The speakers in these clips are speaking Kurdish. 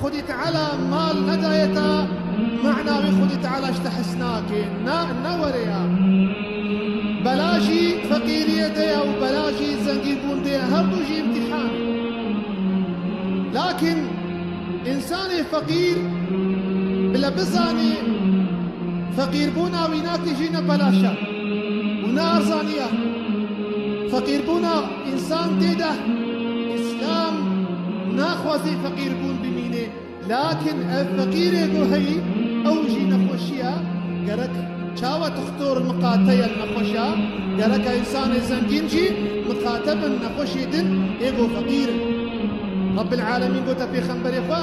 Xwedî Teala mal nedaye ta mana wê Xwedî Teala ji te hes nake. Na, ne were ya. Bela jî feqîriyê de ye û bela jî zengînbûn de ye, her du jî îmtîhan in. Lakin însanê feqîr bile bizane feqîrbûna wî natijîne belaşa û ne erzaniya. Feqîrbûna. Însan tê de Îslam naxwazê feqîrbûn bimîne, lakin ev feqîrê ku heyî ew jî nexweşiya gerek çawa dixtor miqate ye nexweşa gereka însanê zengîn jî miqate bin nexweşê din hêvo feqîr in. Rebbil Alemîn gote pêxemberê xwe.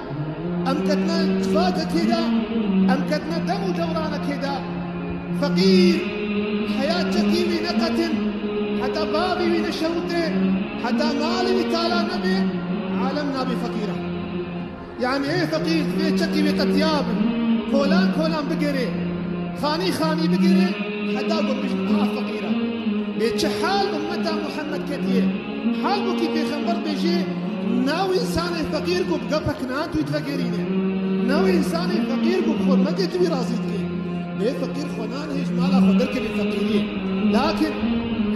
Em ketine tifakekê de, em ketine dem û dewranekê de. Feqîr heya çekî wî neqetin, heta bavê wî neşewite, heta malê wî tala nebe, alem nabe feqîr e. Yanî ê feqîr divê çekî wî qetiya bin, kolan kolan bigere, xanî xanî bigere heta ku bijî niha feqîr e. Lê çi hal ummeta Muhammed ketiye? Halbukî pêxember dibêje, Na wê însanê feqîr ku bi gefek nan tu yê divegerîne. Na wê însanê feqîr ku bi xwe neke tu wî razî dike. Bê feqîr xwe nan hê ji mala xwe derkeve feqîriyê. Lakin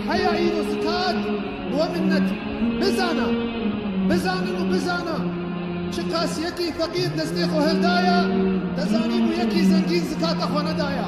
heya îro zikat bi we minnet Bizana! Bizanin û bizana! Çiqas yekî feqîr destê xwe hildaya, te zanîbû yekî zengîn zikata xwe nedaya.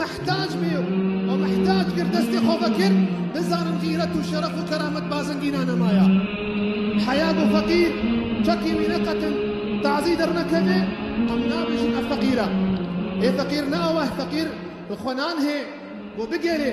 Mihtac bî û mihtac kir destê xwe vekir, bizanin xîret û şeref û keramet bazengîna nema ya. Heya ku feqîr çekî wî neqetin tazî dernekeve, em nabêjin ev feqîr e. Ê feqîr neaweh feqîr bi xwe nan hê ku bigerê.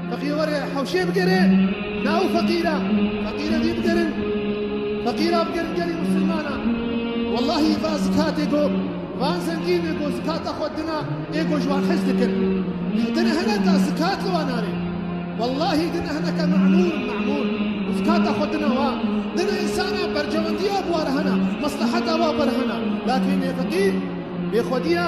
Feqîr were hewşê bigere nav feqîra feqîre dî bigerin feqîra bigerin gelê musilmana wellahî va zikatê ku van zengîne ku zikata xwe dina ê ku ji wan hez dikin ji te ne hene ta zikat li wan nare wellahî din ne hineke memûr memûr û zikata xwe dina wan din ne însana berjewendiya bi wa re hene mesleheta wa bi re hene lakîn ê feqîr bêxwediya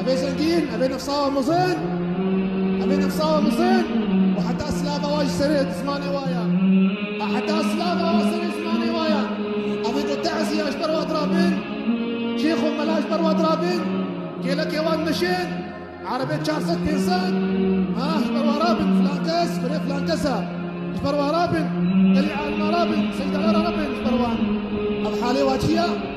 Evê zengîn, evê nefsawa mizin, evê nefsawa mizin û heta silava wa ji serê zimanê wa ya. Heta silava wa serê zimanê wa ya. Evê ku teziya ji ber wa dirabin, şêx û mela ji ber wa dirabin, kêlekê wan meşin, erebê çar sed pênc sed ha ji ber wa rabin filan kes, birê filan kes e. Ji ber wa rabin, gelê alima rabin, seydala rabin ji ber wan. Ev halê wa çi ye?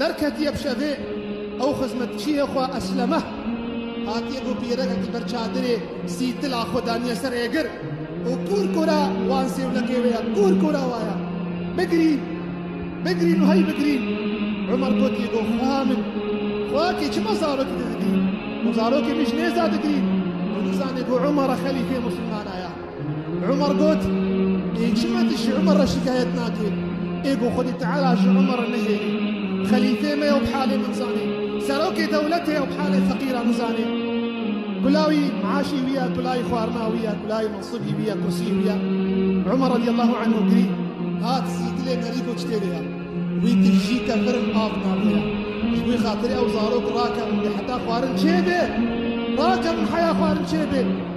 Derketiye bi şevê ew xizmetçiyê xwe Eslemeh hatiye ku pîrekekî ber çadirê sîtila xwe daniye ser êgir û kûr kûra wan sêwlekê wê ye kûr kûra wa ye bigirîn bigirîn û hey bigirîn Umer gotiye ku xweha min xweha kê çima zarokê te digirîn û zarokê min jî nêza digirîn û nizane ku Umer xelîfê muslimana ye. Umar got, Ê çima tu ji Umar re şikayet nakî? Ê ku Xwedî Teala ji Umar re nehêlî. Xelîfê me ew bi halê min zanî. Serokê dewletê ew bi halê feqîran nizanê. Kulawî meaşî wî ye, kulayî xwarina wî ye, kulayî mensibî wî ye, kursiyî wî ye. Umar radîyallahu anhu girî, hat zî dilê me rîko çitê vê ye. Wî tu jî ke virin av navê ye. Ji wî xatirê ew zarok rakevin bê heta xwarin çêbê. Rakevin heya xwarin çêbê.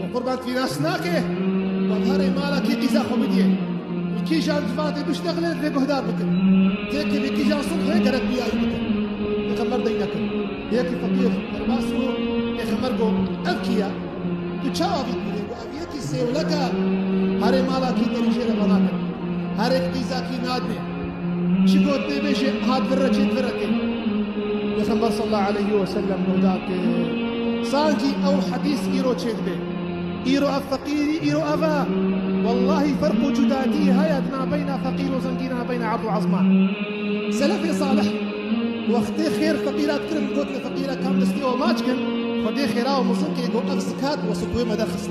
و qurban tîras nake û herê mala kî qîza xwe bidîye û kîjan civatê biştexile rê guhdar bikin. Têkê vê kîjan sulhê gerek biyayî bikin. Pêxember dey nekir. Yekî feqîr derbas bû pêxember got ev kî ye? Tu çawa vî dibînî? Got ev yekî sêwlek e. Herê mala kî derî jê re venakin. Herêk qîza kî nadinê. Çiko tê bêjê hat vir re çê vir re tê. Peygamber sallallahu aleyhi ve sellem nuda ki sanki ew hadîs îro çê dibê. Îro ev feqîrî îro ev e. Wallahi ferq û cudadî heye di navbeyna feqîr û zengî navbeyna erd û ezman. Selefê salih wextê xêr feqîra dikirin gotin feqîra kam destê we maç kin xwedê xêra û mizin kê got ev zikat we sitwê me derxist.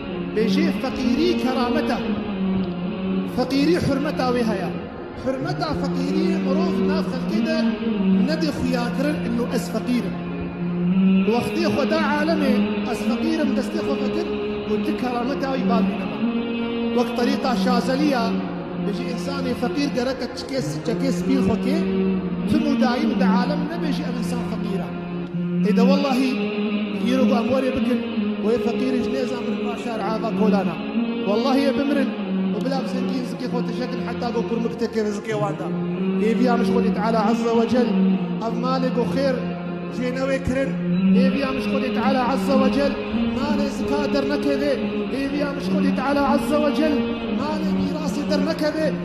Bêjê feqîrî keramet e. Feqîrî hurmeta wê heye. Hurmeta feqîrî mirov nav xelkê de nedê xuyakirin inno ez feqîr im. Li wextê xwe da alemê ez feqîr im destê xwe vekir û tu kerameta wî bar bîne me. Wek terîqa Şazelî ya bêjî însanê feqîr gereke çikê çekê spîn xwe kê. Tim û dayîn di alem nebêjî ev însan feqîr e. Hêde wellahî îro ku em werê bikin wê feqîrî ji nêza min ra şer ava kolana. Wellahî ê bimirin û bila bi zengîn zikê xwe tişekin heta ku kurmik teke di zikê wan de. Hêviya min ji Xwedê Teala Ezze Wecel ev malê ku xêr jê newê kirin. Hêviya min ji Xwedê Teala Ezze Wecel malê zika dernekeve. Hêviya min ji Xwedê Teala Ezze Wecel malê mîrasê dernekeve.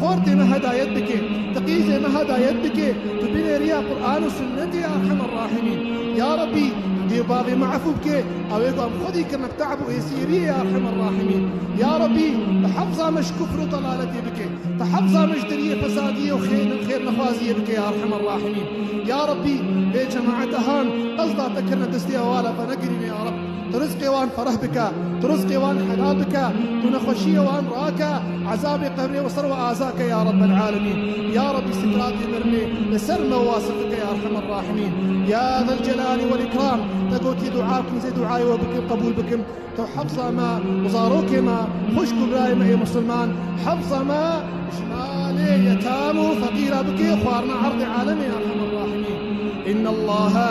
Xortê me hedayet bike, tiqîzê me hedayet bike, tu binê riya Quran û Sunnetê ya Erhemer Rahimîn. Ya Rabbî tu dê û bavê me efû bike, ewê ku em xwedî kirine bi te'b û êsîriyê ya Erhemer Rahimîn. Ya Rabbî tu hefza me ji kufr û delaletê bike, tu hefza me ji deriyê fesadiyê û xêrnexwaziyê bike ya Erhemer Rahimîn. Ya Rabbî vê cemaete han qesda te kirine destê hevala xwe negirîne ya Rabb. Tu rizqê wan fereh bike, tu rizqê wan helal bike, tu nexweşiyê wan rake, ezabê qebrê wi ser wi aza ke ya Rabbel Alemîn. Ya Rabbî sikratê mirinê li ser me wase bike ya Erhemer Rahimîn. Ya Zel Celali Wel Îkram te gotî dua bikin zê duayê we bikin qebûl bikin. Tu hefza me û zarokê me, xwişk û birayê me ê Musulman, hefza me ji malê yetam û feqîra bikê xwarina erdê alemê ya Erhemer Rahimîn. Înnellâhe.